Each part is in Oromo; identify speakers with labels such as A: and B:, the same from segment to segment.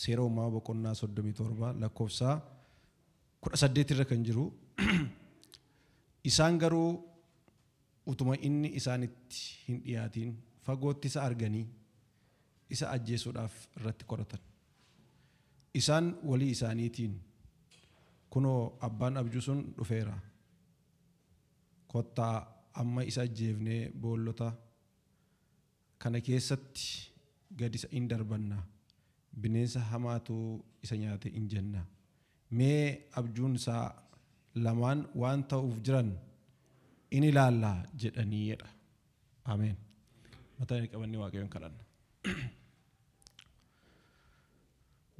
A: Seera Uumamaa boqonnaa 37 lakkoofsa 18 irra kan jiru, Isaan garuu utuma inni isaanitti hin dhiyaatiin fagootti isa arganii isa ajjeesuudhaaf irratti koratan. Isaan walii isaaniitiin, Kunoo abbaan abjuu sun dhufeera, kottaa amma isa ajjeefnee boollota Kana keessatti gad isa in darbanna, bineensa hamaatu isa nyaate in jenna. Mee abjuun isaa lamaan waan ta'uuf jiran in ilaalla jedhanii jedha. Ameen. Mataa gadi qabannee Waaqayyoon kadhanna.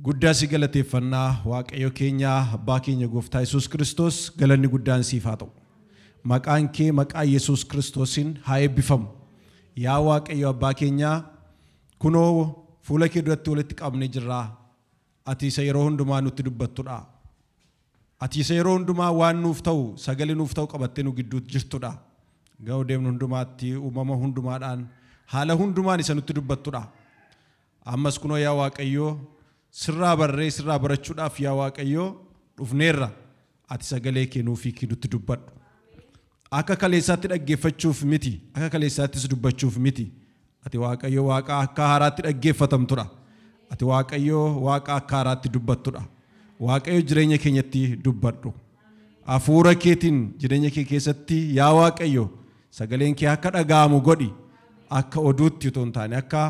A: Guddaa si galateeffanna Waaqayyo keenya Abbaa keenya Gooftaa Yesuus Kiristoos galanni guddaan siif haa ta'u. Maqaan kee maqaa Yesuus Kiristoosiin haa eebbifamu. Yaa Waaqayyo Abbaa keenyaa kunoo fuula kee duratti walitti qabamne jirra. Ati isa yeroo hundumaa nutti dubbattudha. Ati isa yeroo hundumaa waan nuuf ta'u sagalee nuuf ta'u qabattee nu gidduutti jirtudha. Ga'u deemnu hundumaatti uumama hundumaadhaan haala hundumaan isa nutti dubbattudha. Ammas kunoo yaa Waaqayyo, sirraa barree sirraa barachuudhaaf yaa Waaqayyo dhufneerra. Ati sagalee kee nuuf hiikii nutti dubbadhu. Akka kaleessaatti dhaggeeffachuuf miti, akka kaleessaattis dubbachuuf miti. Ati Waaqayyo Waaqa akka haaraatti dhaggeeffatamtudha. Ati Waaqayyo Waaqa akka haaraatti dubbattudha. Waaqayyo jireenya keenyatti dubbadhu. Hafuura keetiin jireenya kee keessatti yaa Waaqayyo Sagaleen kee akka dhaga'amu godhi. Akka oduutti utuu hin taane, akka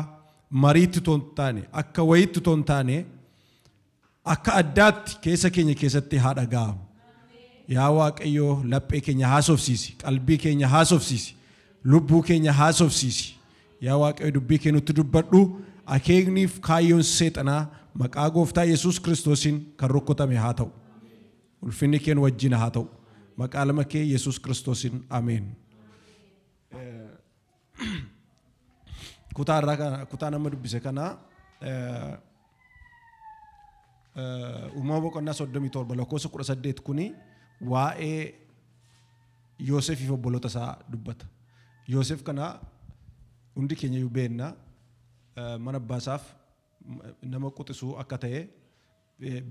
A: mariitti utuu hin taane, akka wayiitti utuu hin taane, akka addaatti keessa keenya keessatti haa dhaga'amu. Yaa Waaqayyo laphee keenya haasofsiisi, qalbii keenya haasofsiisi, lubbuu keenya haasofsiisi. Yaa Waaqayyo dubbii kee nutti dubbadhu, akeekniif kaayyoon seexanaa maqaa gooftaa Yesuus Kiristoosiin kan rukkutame haa ta'u. Ulfinni kee nu wajjin haa ta'u. Maqaa ilma kee Yesuus Kiristoosiin ameen. Kutaa irraa kana- kutaa nama dubbise kana eh, eh, uumama boqonnaa 37 lakkoofsa 18 kuni waa'ee Yoosefiif obboloota isaa dubbata. Yoosef kana hundi keenya iyyuu beenna eh, mana abbaa isaaf m- nama quxisuu akka ta'e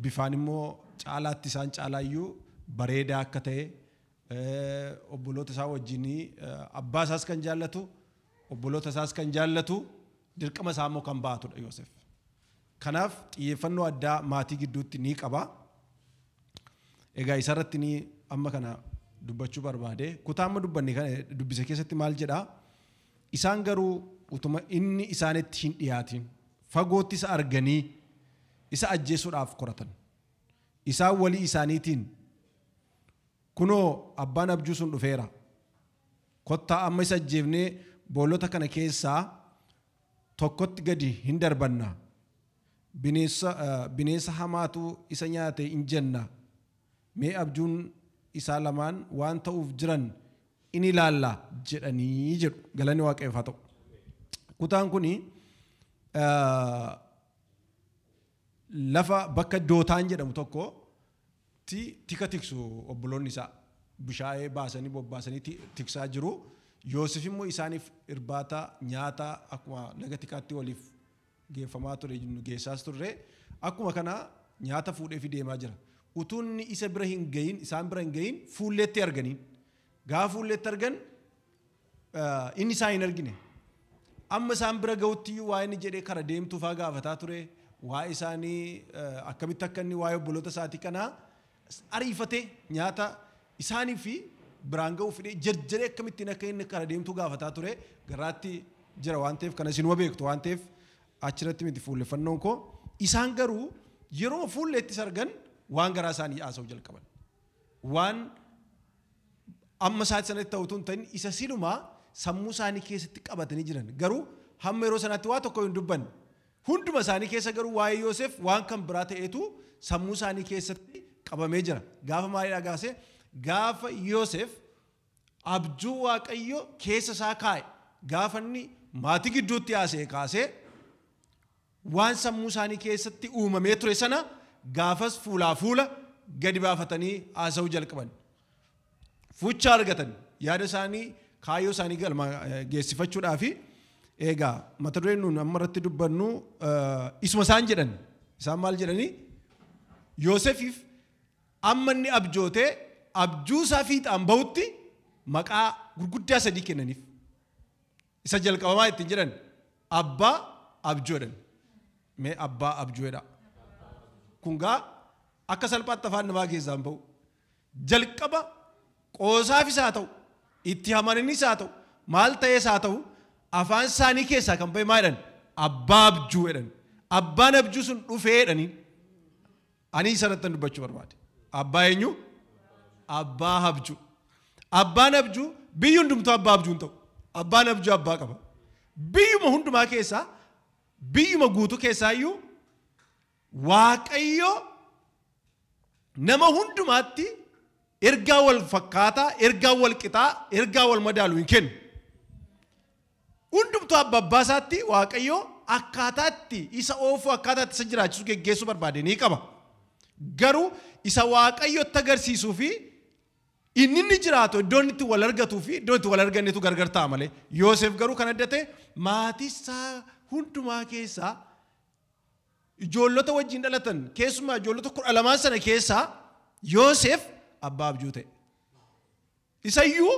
A: bifaan immoo caalaatti isaan caalaa iyyuu bareedaa akka ta'e, obboloota isaa wajjin abbaa isaas kan jaallatu, obboloota isaas kan jaallatu, dirqama isaa immoo kan ba'atu dha Yoosef. Kanaaf xiyyeeffannoo addaa maatii gidduutti ni qaba. Egaa isa irratti ni amma kana dubbachuu barbaade. Kutaa amma dubbanne kana dubbise keessatti maal jedha? Isaan garuu utuma inni isaanitti hin dhiyaatin fagootti isa arganii isa ajjeesuudhaaf koratan. Isaan walii isaaniitiin, Kunoo, abbaan abjuu sun dhufeera. Kottaa amma isa ajjeefnee boolota kana keessaa tokkotti gadi in darbanna. Bineensa, bineensa hamaatu isa nyaate in jenna. Mee abjuun isaa lamaan waan ta'uuf jiran in ilaalla jedhanii jedhu. Galanni Waaqayyoof haa ta'u. Kutaan kuni lafa bakka Dootaan jedhamu tokko ti tika tiksu obboloonni isaa. Bushaayee baasanii bobbaasanii tiksaa jiru. Yoosef immoo isaaniif irbaata, nyaata akkuma laga tikaatti waliif geeffamaa ture geessaas turre. Akkuma kana nyaata fuudheefi deemaa jira. Utuu inni isa bira hin gahin isaan bira hin gahin fuulleetti arganiin. Gaafa fuulleetti argan Inni isaa hin argine. Amma isaan bira ga'utti iyyuu waa inni jedhee kara deemtuu faa gaafataa ture. Waa'ee isaanii akkamitti akka inni waa'ee obboloota isaatii kanaa ariifatee nyaata isaanii fi biraan ga'uu fidee jarjaree akkamittiin akka inni kara deemtuu gaafataa ture garaatti jira waan ta'eef kana isinuma beektu waan ta'eef achirratti miti fuulleffannoon koo isaan garuu yeroo fuulleettis argan waan garaa isaanii haasa'uu jalqaban. Waan Amma isaatti sanatti ta'u utuu hin ta'in isa siluma sammuu isaanii keessatti qabatanii jiran. Garuu hamma yeroo sanaatti waa tokko hin dubbanne. Hunduma isaanii keessa garuu waa'ee Yoosef waan kan biraa ta'etu sammuu isaanii keessatti qabamee jira. Gaafa maalidhaa gaasee gaafa Yoosef abjuu Waaqayyo keessa isaa kaa'e gaafa inni maatii gidduutti haasa'e kaasee Waan sammuu isaanii keessatti uumamee ture sana gaafas fuulaa fuula gadi baafatanii haasa'uu jalqaban. Fucha argatan. Yaada isaanii kaayyoo isaanii galma geessifachuudhaafi eegaa mata dureen nuun amma irratti dubbannu isuma isaan jedhan. Isaan maal jedhanii? Yoosefiif amma inni abjootee abjuusaa fiixaan bahutti maqaa gurguddaa sadii kennaniif. Isa jalqaba maa ittiin jedhan? Abbaa abjuu jedhan. Mee abbaa abjuu jedhaa. Kun gaa akka salphaatti afaan namaa keessaa hin ba'u. Jalqaba qoosaafis haa ta'u, itti hamaninis haa ta'u, maal ta'ees haa ta'u, afaan isaanii keessaa kan ba'e maa jedhan? Abbaa abjuu jedhan. Abbaan abjuu sun dhufee jedhanii. Ani isa irrattan dubbachuu barbaade. Abbaa eenyu? Abbaa habjuu. Abbaan habjuu biyyi hundumtuu abbaa habjuu hin ta'u. Abbaan habjuu abbaa qaba. Biyyuma hundumaa keessaa biyyuma guutuu keessaa iyyuu Waaqayyo nama hundumaatti ergaa wal fakkaataa, ergaa wal qixaa, ergaa wal madaalu hin kennu. Hundumtuu abba abbaa isaatti Waaqayyo akkaataa itti isa oofuu, akkaataa itti isa jiraachisu geggeessuu barbaade ni qaba. Garuu isa Waaqayyo itti agarsiisuu fi inni inni jiraatu iddoo inni itti wal argatuu fi iddoo itti wal argannetu gargar ta'a malee. Yooseef garuu kan adda ta'e maatii isaa hundumaa keessaa ijoollota wajjin dhalatan keessumaa ijoollota kudha lamaan sana keessaa Yooseef abbaa abjuu ta'e. Isayyuu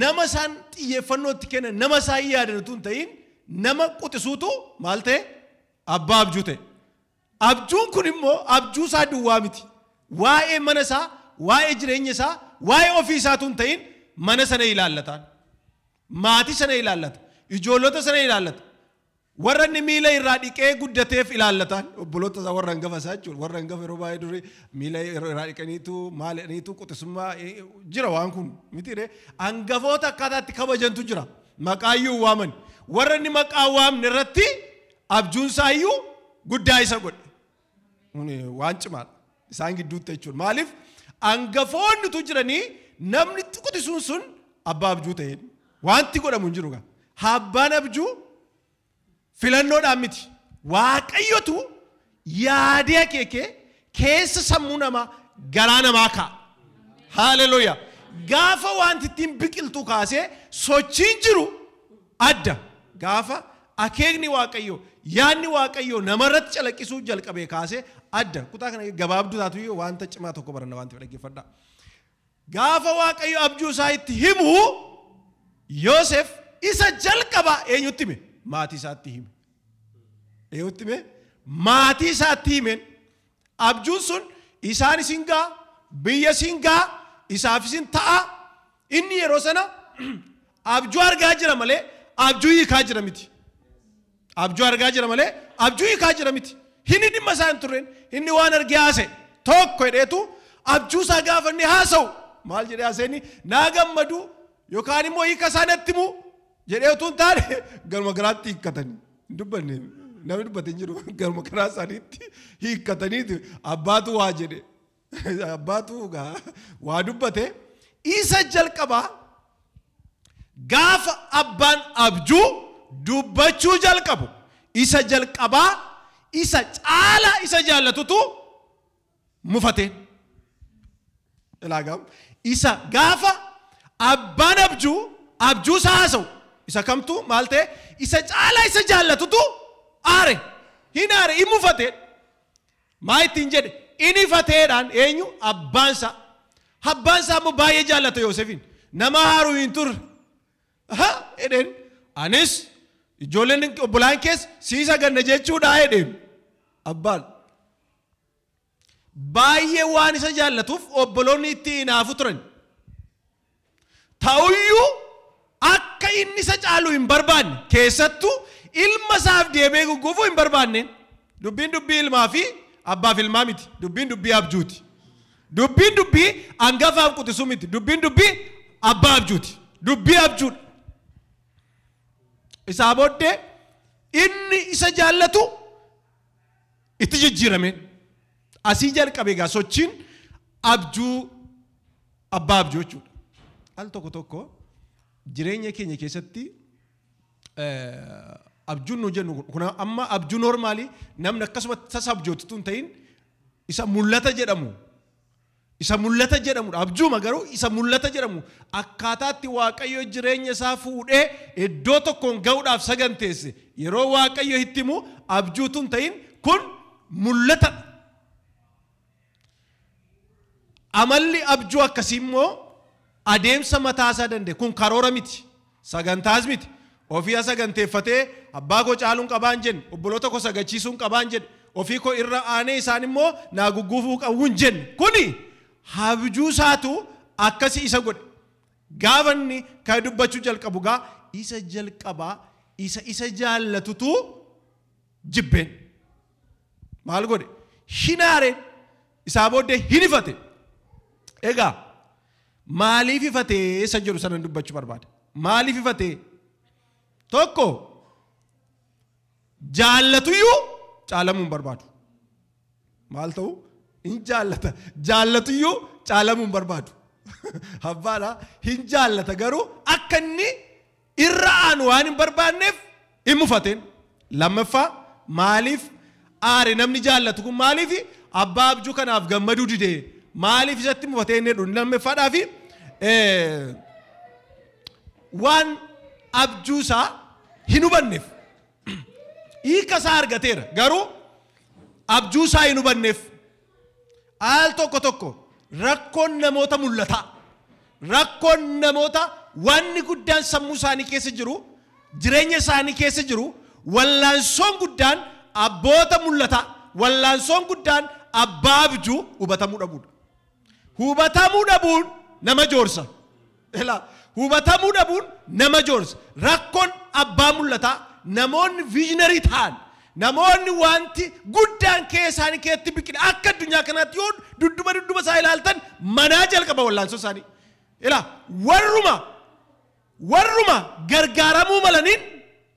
A: Nama isaan xiyyeeffannoo itti kennan, nama isaan yaadan utuu hin ta'iin nama quxisuutu maal ta'e? Abbaa abjuu ta'e. Abjuun kun immoo abjuu isaa duwwaa miti. Waa'ee mana isaa, waa'ee jireenya isaa, waa'ee ofii isaa utuu hin ta'iin mana sana ilaallataan. Maatii sana ilaallata. Ijoollota sana ilaallata. Warra inni miila irraa dhiqee guddateef ilaallataan, obboloota isaa warra hangafa isaa jechuudha. Warra hangafa yeroo baay'ee durii miila irraa dhiqaniitu maal jedhaniitu quxisummaa jira waan kun mitiiree hangafoota akkaataa itti kabajantu jira. Maqaa iyyuu waaman. Warra inni maqaa waamne irratti abjuun isaa iyyuu guddaa isa godhe. Kun waan cimaadha. Isaan gidduutti jechuudha. Maaliif angafoonni utuu jiranii namni quxisuun sun abbaa abjuu ta'e. Wanti godhamu hin jiru gaa. Abbaan abjuu filannoodhaan miti. Waaqayyotu yaadee akeekee keessa sammuu namaa garaa namaa kaa'a. Haaleluuyaa. Gaafa wanti ittiin biqiltuu kaasee sochiin jiru Adda, gaafa akeekni Waaqayyoo, yaadni Waaqayyoo nama irratti calaqqisuu jalqabee kaasee adda. Kutaa kana gabaabduu taatuyyuu wanta cimaa tokko baranna waan ta'eef dhaggeeffadhaa. Gaafa Waaqayyo abjuu isaa itti himu Yoosef isa jalqaba eenyutti hime? Maatii isaatti hime. Eenyutti hime? Maatii isaatti himeen abjuun sun isaan isin ga'a, biyya isin ga'a, isaaf isin ta'a, Inni yeroo sana abjuu argaa jira malee abjuu hiikaa jira miti. Abjuu argaa jira malee abjuu hiikaa jira miti. Inni dhimma isaa hin turreen inni waan argee haasa'e tokko hidheetu abjuu isaa gaafa inni haasa'u maal jedhee haasa'inni naa gammadu yookaan immoo hiika isaa natti himu jedhee utuu hin taane garuma garaatti hiikkatanii hin dubbanne namni dubbate hin jiru garuma garaa isaaniitti hiikkataniiti abbaatu waa jedhe Abbaatu gaa waa dubbate. Isa jalqabaa gaafa abbaan abjuu dubbachuu jalqabu isa jalqabaa isa caalaa isa jaallatutu mufate. Ilaagaam isa gaafa abbaan abjuu abjuu isaa haasa'u isa kamtu maal ta'e isa caalaa isa jaallatutu aare hin aare hin mufate. Maa ittiin jedhe? In ifateedhaan, eenyu? Abbaan isaa. Abbaan isaa immoo baay'ee jaallata Yoosefiin. Nama haaru hin turre. Aha! jedheen. Anis ijoolleen obbolaan kees sii saganna jechuudha jedheen. Abbaan. Baay'ee waan isa jaallatuuf obboloonni itti inaafu turan. Ta'uyyuu, akka inni isa caalu hin barbaanne, keessattuu ilma isaaf deebi'ee gugguufuu hin barbaanne. Dubbiin dubbii ilmaa fi abbaaf ilmaa miti. Dubbiin dubbii abjuuti. Dubbiin dubbii angafaaf quxisuu miti. Dubbiin dubbii abbaa abjuuti. Dubbii abjuudha. Isaa booddee inni isa jaallatu itti jijjiirame. Asii jalqabe egaa sochiin abjuu abbaa abjuu jechuudha. Al tokko tokko jireenya keenya keessatti abjuun nu jennu kun amma abjuu noormaalii namni akkasumatti tasa abjootu tun ta'in isa mul'ata jedhamu Isa mul'ata jedhamu dha. Abjuuma garuu isa mul'ata jedhamu akkaataa itti Waaqayyo jireenya isaa fuudhee iddoo tokkoon ga'uudhaaf saganteesse yeroo Waaqayyo itti himu abjuu utuu hin ta'in kun mul'ata dha. Amalli abjuu akkasii immoo adeemsa mataa isaa danda'e kun karoora miti. Sagantaas miti. Ofii asaganteeffatee abbaa koo caaluun qabaan jenne. Obboloota koo sagachiisuun qabaan jedhe. Ofii koo irra aanee isaan immoo naa gugguufuu qabu hin jenne. Kuni habjuu isaatu akkasi isa godhe. Gaafa inni kana dubbachuu jalqabu gaa isa jalqabaa isa isa jaallatutu jibbeen. maal godhe? Hin aare. Isaa booddee hin ifate. Egaa maaliif ifatee isa jedhu sanan dubbachuu barbaada. Maaliif ifatee? Tokko jaallatuyyuu caalamuu hin barbaadu. Maal ta'u? Hin jaallata. Jaallatuyyuu caalamuu hin barbaadu. Abbaadha. Hin jaallata garuu akka inni irra aanu waan hin barbaanneef hin mufatin. Lammaffaa maaliif aare namni jaallatu kun maaliif abbaa abjuu kanaaf gammaduu dide maaliif isatti mufatee inni jedhu lammaffaadhaa fi waan abjuu isaa hin hubanneef hiika isaa argateera garuu abjuu isaa hin hubanneef Al tokko tokko rakkoon namoota mul'ataa, rakkoon namoota waanni guddaan sammuu isaanii keessa jiru, jireenya isaanii keessa jiru, wallaansoon guddaan abboota mul'ataa, wallaansoon guddaan abbaa abjuu hubatamuu dhabuudha. Hubatamuu dhabuun nama joorsa. Ilaa, hubatamuu dhabuun nama joorsa. Rakkon abbaa mul'ataa, namoonni visionary ta'an, namoonni wanti guddaan kee isaanii keessatti biqile akka addunyaa kanaatti yoo dudduba dudduba isaa ilaaltan manaa jalqaba wallaansoo isaanii. Ilaa, warruma warruma gargaaramuu malaniin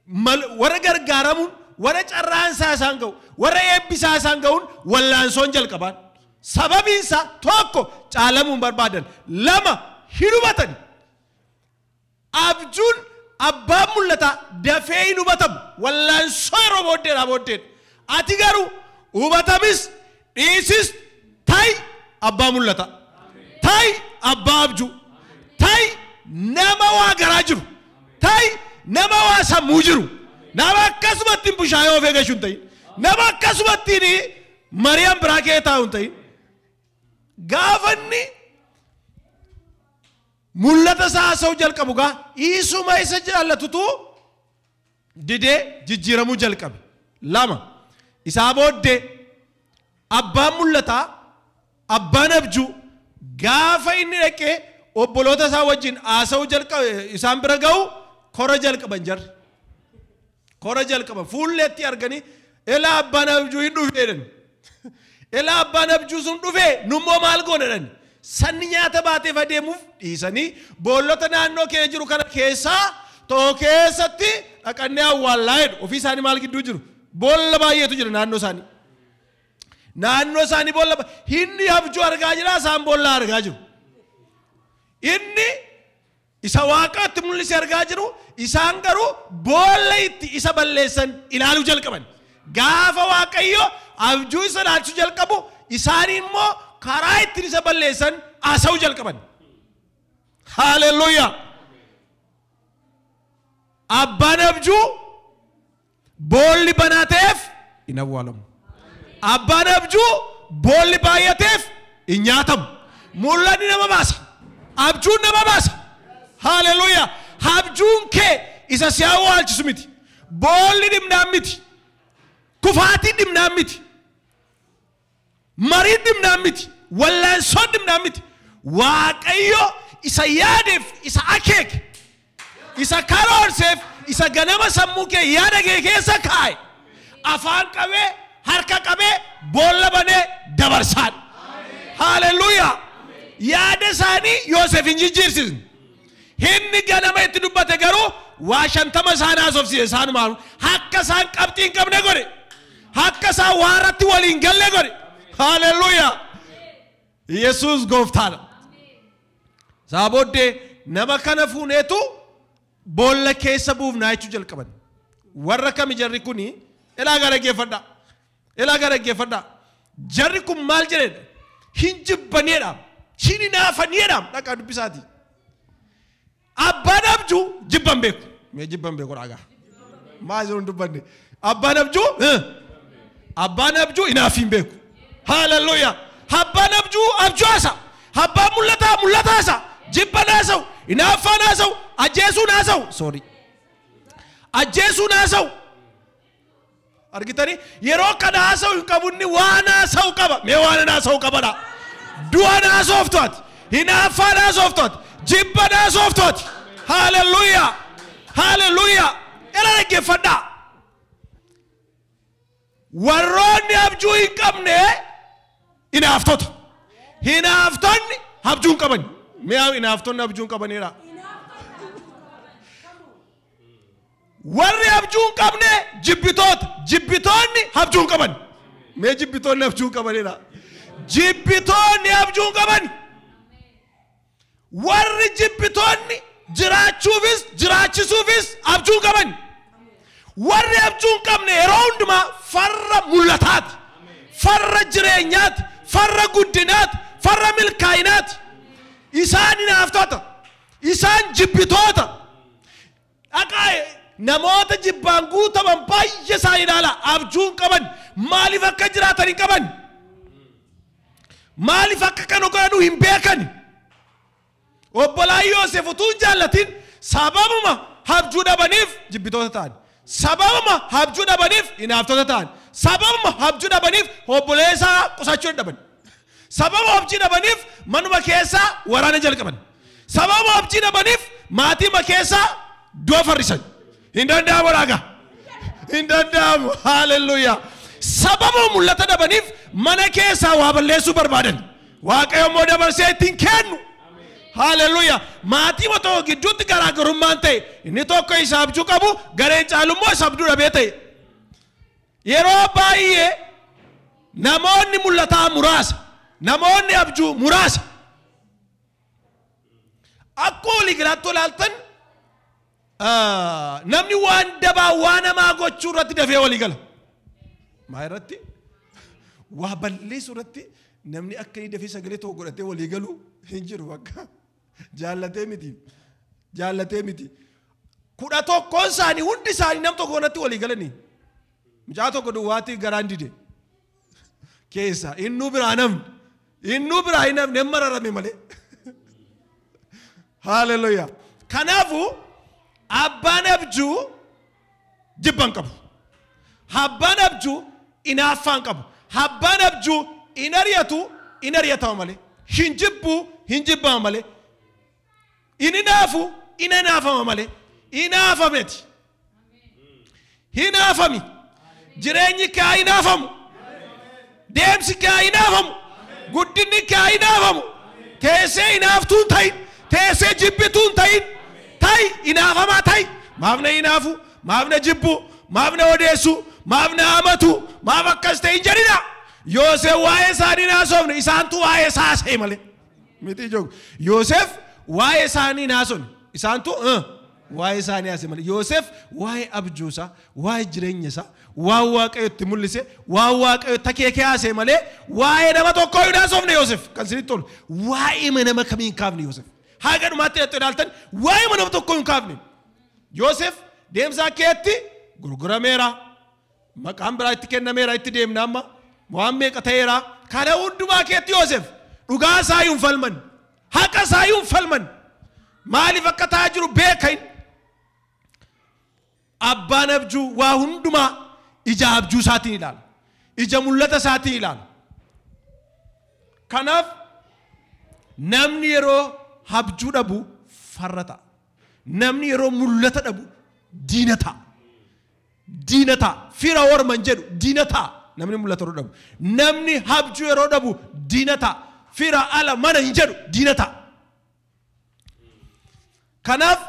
A: mal, warra gargaaramuun, warra carraan isaa isaan ga'u, warra eebbi isaa isaan ga'uun wallaansoon jalqabaan. Sababiin isaa tokko caalamuu hin barbaadan, lama hin hubatani. Abjuun abbaan mul'ataa dafee hin hubatamu, wallaansoo yeroo booddeedhaa booddeedha. Ati garuu hubatamis Dhiisis ta'i abbaa mul'ataa. Ta'i abbaa abjuu. Ta'i nama waa garaa jiru. Ta'i nama waa sammuu jiru. Nama akkasuma ittiin bushaayee ofee gashu hin ta'in. Nama akkasuma ittiin Mariyam biraa kee taa'u hin ta'in. Gaafa inni mul'ata isaa haasa'uu jalqabu gaa isuma isa jaallatutu didee jijjiiramuu jalqabe. 2, Isaa booddee abbaan mul'ataa, abbaan abjuu, gaafa inni dhaqee obboloota isaa wajjin haasa'uu jalqabe, isaan bira ga'u, kora jalqaban jarri. Kora jalqaban. Fuulleetti arganii Elaa abbaan abjuu hin dhufe jedhani. Elaa abbaan abjuu sun dhufe nummoo maal goona jedhani. Sanni nyaata baateef adeemuuf dhiisanii boollota naannoo keenya jiru kana keessaa tokko keessatti dhaqannee awwaallaa jedhu. Ofii isaanii maal gidduu jiru? Boolla baay'eetu jira naannoo isaanii. Naannoo isaanii boolla ba- inni abjuu argaa jira isaan boolla argaa jiru. Inni Isa Waaqaatti mul'ise argaa jiru, isaan garuu boolla itti isa balleessan ilaaluu jalqaban. Gaafa Waaqayyo abjuu isa ilaalchisuu jalqabu, isaanii immoo karaa ittiin isa balleessan haasa'uu jalqaban. Haaleluyyaa! Abbaan abjuu Boolli banaa ta'eef hin awwaalamu. Abbaan abjuu boolli baay'ateef hin nyaatamu. Mul'anni nama baasa. Abjuun nama baasa. Haaleluyyaa! Abjuun kee isa si awwaalchisu miti. Boolli dhimnaan miti. Kufaatiin dhimnaan miti. Mariin dhimnaan miti, wallaansoon dhimnaan miti, Waaqayyo isa yaadeef, isa akeeke, isa karoorseef, isa ganama sammuu kee, yaada kee keessa kaa'e, afaan qabee, harka qabee, boolla banee dabarsaadha. Haaleluyyaa! Yaada isaanii Yooseef hin jijjiirsisne. Himni ganama itti dubbate garuu waa 50 isaan haasofsiise. Isaanumaanuu akka isaan qabxii hin qabne godhe. Akka isaan waa irratti walii hin galle godhe. Haaleluyyaa! Yesuus gooftaadha. Isaa booddee nama kana fuuneetu boolla keessa buufnaa jechuu jalqaban. Warra kami jarri kuni ilaa gara geeffadha. Ilaa gaa dhaggeeffadhaa. Jarri kun maal jedheedha? Hin jibbaniidha. Hin hinaafaniidha. Dhaqaa dubbisaati. Abbaan abjuu jibban beeku. Mee jibban beeku dhaagaa. Maa jiru hin dubbanne. Abbaan abjuu eh, abbaan abjuu hinaafii hin beeku. Haaleluyyaa. Abbaan abjuu abjuu haasa. Abbaan mul'ataa mul'ata haasa. Jibban haasa'u. Hinaaffaan haasa'u. Ajjeesuun haasa'u. Sorry. Ajjeesuun haasa'u. argitanii yeroo kana haasa'u hin qabu inni waan haasa'u qaba mee waan hin haasa'u qabadha du'an haasoftu ati hinaaffaan haasoftu ati jibban haasoftu ati haaleluyyaa haaleluyyaa era dhaggeeffadhaa warroonni abjuu hin qabne hinaaftota hinaaftonni abjuu hin qaban mee hinaaftonni abjuu hin qabaniidha Warri abjuu hin qabne jibbitoota. Jibbitoonni abjuu hin qaban. Mee jibbitoonni abjuu hin qaban jedhaa. Jibbitoonni abjuu hin qaban. Warri jibbitoonni jiraachuufis jiraachisuufis abjuu hin qaban. Warri abjuu hin qabne yeroo hundumaa farra mul'ataati. Farra jireenyaati. Farra guddinaati. Farra milkaa'inaati. Isaan hinaaftota. Isaan jibbitoota. Dhaqaa namoota jibbaan guutaman baay'ee isaa ilaala. Abjuu hin qaban. Maaliif akka jiraatan hin qaban. Maaliif akka kana godhanu hin beekan. Obbolaan Yoosef utuu hin jaallatin sababuma abjuu dhabaniif jibbitoota ta'an. Sababuma abjuu dhabaniif hinaaftota ta'an. Sababuma abjuu dhabaniif obboleessaa qusachuu dadhaban. Sababa objii dhabaniif manuma keessaa waraana jalqaban. Sababa objii dhabaniif maatiima keessaa du'a farrisan. Hin danda'amu raaga. Hin danda'amu. Haaleluyyaa. Sababa mul'ata dhabaniif mana keessaa waa balleessuu barbaadan. Waaqayyo immoo dabarsee ittiin kennu. Haaleluyyaa. Maatiima tokko gidduutti garaagarummaan ta'e inni tokko isa abjuu qabu gareen caalu immoo isa abduu dhabee ta'e. Yeroo baay'ee namoonni mul'ataa muraasa, namoonni abjuu muraasa. Akkuma walii galaatti olaaltan namni waan dabaa waan hamaa gochuu irratti dafee walii gala. Maa irratti waa balleessuu irratti namni akka inni dafee sagalee tokko godhatee walii galu hin jiru bakka. Jaallatee miti. Jaallatee miti. Kudha tokkoon isaanii hundi isaanii nam tokko kanatti walii galanii. Mucaa tokko duwwaatti garaan dide. Keessa innuu biraa namni. Innuu biraa hin namni hin mararame malee. Haaleluyyaa. Kanaafuu abbaan abjuu jibba hin qabu. Abbaan abju inaaffaa hin qabu. Abbaan abju hin ari'atu, hin ari'atama malee. Hin jibbu, hin jibbama malee. Hin inaafu, hin inaafama malee. Inaafa miti. Hinaafami. Jireenyi kee haa inaafamu. Deemsi kee haa inaafamu. Guddinni kee haa inaafamu. Teessee inaaftuu hin ta'in. Teessee jibbituu hin ta'in. Ta'i inaafamaa ta'i. Maaf na inaafu? Maaf na jibbu? Maaf na odeessu? Maaf na amatu? Maaf akkas ta'e hin jedhina. Yoosef waa'ee isaanii hin haasofne isaantu waa'ee isaa haasa'e malee. Miti ijoollee. Yoosef waa'ee isaanii hin haasofne isaantu. Waa'ee isaanii haasa'e malee. Yoosef waa'ee abjuu isaa, waa'ee jireenya isaa, waan Waaqayyo itti mul'ise, waan Waaqayyo takeekee haasa'e malee waa'ee nama tokkoo hin haasofne Yoosef. Kan isinitti tolu waa'ee nama kamii hin kaafne Yoosef. Haga dhumaatti dhattee ilaaltan waa'ee nama tokkoo hin kaafne. Yoosef deemsa keetti gurgurameera. Maqaan biraa itti kennameera, itti deemna amma. Waan meeqa ta'eera. Kana hundumaa keetti Yoosef dhugaa isaa hin falman. Haqa isaa hin falman. Maaliif akka ta'aa jiru beeka inni. Abbaan abjuu waa hundumaa ija abjuu isaatiin ilaala. Ija mul'ata isaatiin ilaala. Kanaaf namni yeroo abjuu dhabu farra ta'a. Namni yeroo mul'ata dhabu diina ta'a. diina ta'a. Fira orman jedhu diina ta'a. Namni mul'ata yeroo dhabu. Namni habjuu yeroo dhabu diina ta'a. Fira ala mana hin jedhu diina ta'a. Kanaaf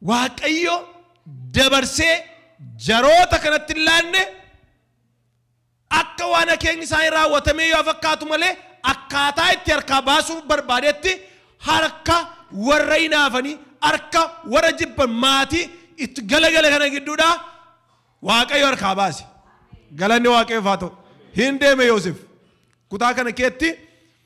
A: Waaqayyo dabarsee jaroota kanatti hin laanne Akka waan akeekni isaanii raawwatamee yoo fakkaatu malee akkaataa itti harkaa baasuuf barbaadetti harka warra hinaafanii, harka warra jibban maatii itti galagale kana gidduudhaa Waaqayyo harkaa baase. Galanni Waaqayyoof haa ta'u. Hin deeme Yoosef. Kutaa kana keetti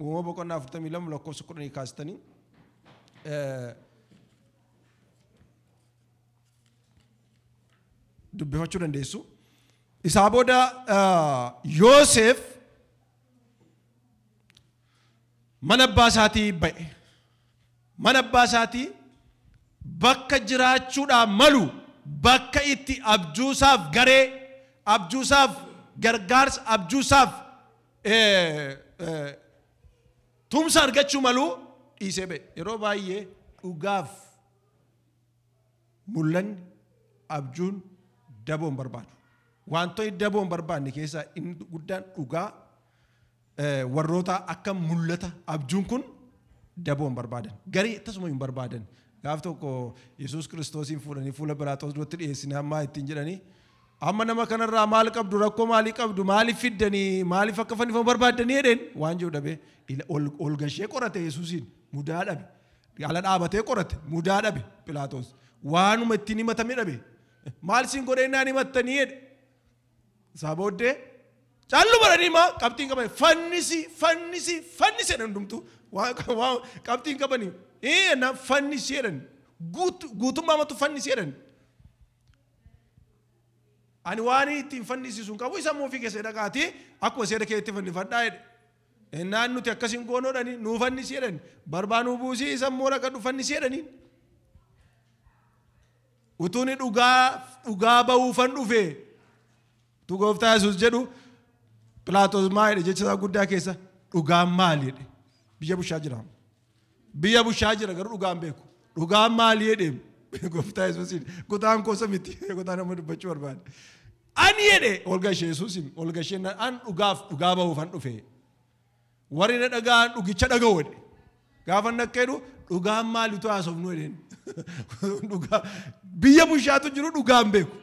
A: Uumama boqonnaa 42 lakkoofsa 10 kaastanii dubbifachuu dandeessu. Isaa booda Yooseef mana abbaa isaatii ba'e. Mana abbaa isaatii bakka jiraachuudhaaf malu bakka itti abjuusaaf garee abjuusaaf gargaarsa abjuusaaf tumsa argachuu malu dhiisee ba'e. Yeroo baay'ee dhugaaf mul'anni, abjuun, daboo hin barbaadu. Wantoonni daboo hin barbaanne keessaa inni guddaan dhugaa warrootaa akka mul'ata abjuun kun daboo hin barbaadan. Garii akkasuma hin barbaadan. Gaaf tokko Yesuus Kiristoosiin fuudhanii fuula Philaaxoos duratti dhiyeessine hammaa ittiin jedhanii Amma nama kana irraa maal qabdu rakkoo maalii qabdu maaliif fiddanii maaliif akka fannifamu barbaaddanii jedheen waan jiru dhabee ila- ol ol gashee qorate Yesuusiin mudaa dhabe ala dhaabatee qorate mudaa dhabe Philaaxoos waanuma ittiin himatame dhabe maal siin godhee naan himattanii jedhe isaa booddee callu baranii maa qabxiin qabanii fannisi fannisi fannisi jedhan hundumtu Waa- waa- qabxiin qabanii ee na fannisi jedhan Guut- guutummaa matu fannisi jedhan Ani waanii ittiin fannisisu hin qabu, isa immoo ofii keessanii dhaqaatii akkuma seera keetti fannifadhaa jedhe. Ennaan nuti akkas hin goonu jedhanii nuu fannisi jedhani. Barbaa nuu buusii isa immoo dhaqadhu fannisi jedhaniin. Utuuni dhugaa dhugaa ba'uufan dhufe utuu gooftaa Yesuus jedhu Pilaatos maa jedhe jecha isaa guddaa keessa dhugaan maali jedhe biyya bushaa jira. Biyya bushaa jira garuu dhugaan beeku. Dhugaan maali jedhe gooftaa Yesuusiin kutaan koosa miti kutaan amma dubbachuu barbaade. Ani jedhe ol gashee Yesuusiin ol gashee na- an dhugaaf dhugaa bahuufan dhufe. Warri na dhaga'an dhugicha dhaga'u jedhe. Gaafa inni akka jedhu dhugaan maalitu haasofnu jedheen. Dhugaa biyya bushaatu jiru dhugaan beeku.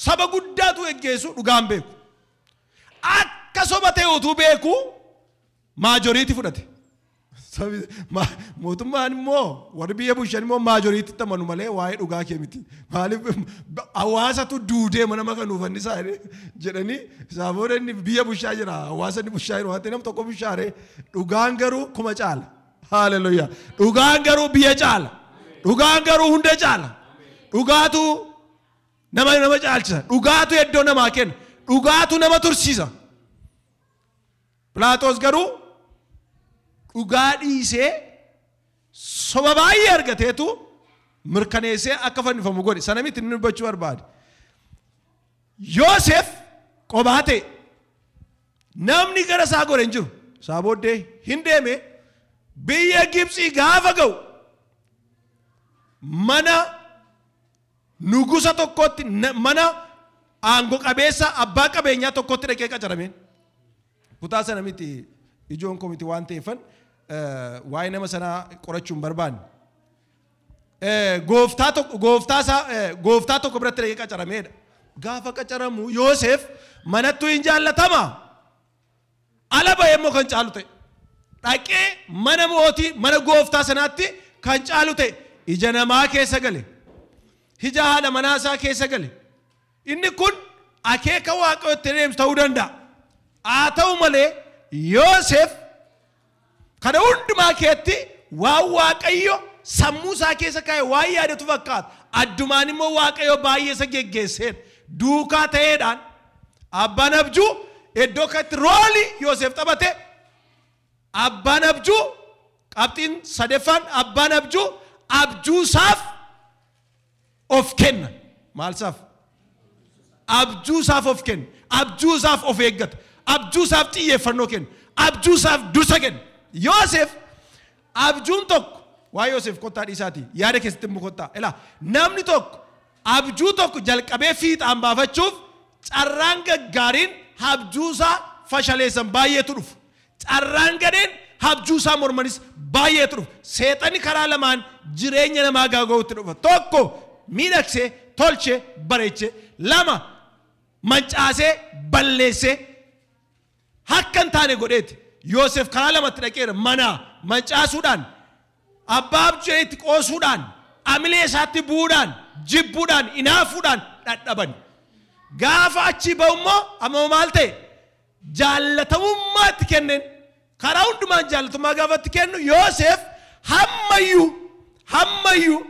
A: Saba guddaatu geggeessu dhugaan beeku. Akka soba ta'e utuu beeku Maajoriiti fudhate. Mootummaan immoo warri biyya bulchan immoo maajoriititti amanu malee waa'ee dhugaa kee miti. Maaliif hawaasatu duudee mana maka nuuf annisaa jedhanii isaa booda inni biyya bulchaa jira hawaasa inni bulchaa jiru wanti nam tokko bulchaaree dhugaan garuu kuma caala. Haaleluyyaa. Dhugaan garuu biyya caala. Dhugaan garuu hunda caala. Dhugaatu nama nama caalchisa. Dhugaatu iddoo namaa kenna. Dhugaatu nama tursiisa. Philaaxos garuu dhugaa dhiisee soba baay'ee argateetu mirkaneessee akka fannifamu godhe. Sana miti inni dubbachuu barbaade. Yoosef qobaa ta'e. Namni gara isaa gore hin jiru. Isaa booddee hin deeme biyya Gibxii gaafa ga'u mana Nugusa tokkotti mana aango qabeessa abbaa qabeenyaa tokkotti dhaqee qacarameen. Kutaa sana miti ijoon koo miti waan ta'eeffan waa'ee nama sanaa qorachuu hin barbaanne. Gooftaa tokko gooftaa isaa gooftaa tokko biratti dhaqee qacarameedha. Gaafa qacaramu Yooseef manattuu hin jaallatama. ala ba'ee immoo kan caalu ta'e. Dhaqee mana mootii, mana gooftaa sanaatti kan caalu ta'e. Ija namaa keessa gale. Ija haadha manaa isaa keessa gale. Inni kun akeeka waaqayyoo itti deemsu ta'uu danda'a. Haa ta'u malee Yoosef Kana hundumaa keessatti waan Waaqayyo sammuu isaa keessa kaa'e waan yaadatu fakkaata. Addumaan immoo Waaqayyo baay'ee isa geggeesseera. Duukaa ta'eedhaan abbaan abjuu iddoo kanatti roolii Yooseef taphate abbaan abjuu qabxiin sadeeffaan abbaan abjuu abjuusaaf of kenna. Maal isaaf? Abjuu isaaf of kenna. Abjuu isaaf of eeggata. Abjuu isaaf xiyyeeffannoo kenna. Abjuu isaaf dursa kenna. Yoosef abjuun tokko waa Yoosef kottaa dhiisaatii yaada keessatti immoo kottaa. Ilaa namni tokko abjuu tokko jalqabee fiixaan baafachuuf carraan gaggaariin abjuu isaa fashaleessan baay'eetu dhufu. Carraan gadheen habjuu isaa mormanis baay'eetu dhufa. Seexanni karaa lamaan jireenya namaa gaaga'uutti dhufa. Tokko miidhagsee, tolchee, bareechee. Lama mancaasee, balleessee akka hin taane godheeti. Yoosef karaa lamatti dhaqeera. Manaa mancaasuudhaan, abbaa abjuu itti qoosuudhaan, amilee isaatti bu'uudhaan, jibbuudhaan, inaafuudhaan dhadhaban. Gaafa achii ba'u immoo amma maal ta'e? jaallatamummaa itti kenneen, karaa hundumaan jaallatummaa gaafa itti kennu Yooseef hamma iyyuu, hamma iyyuu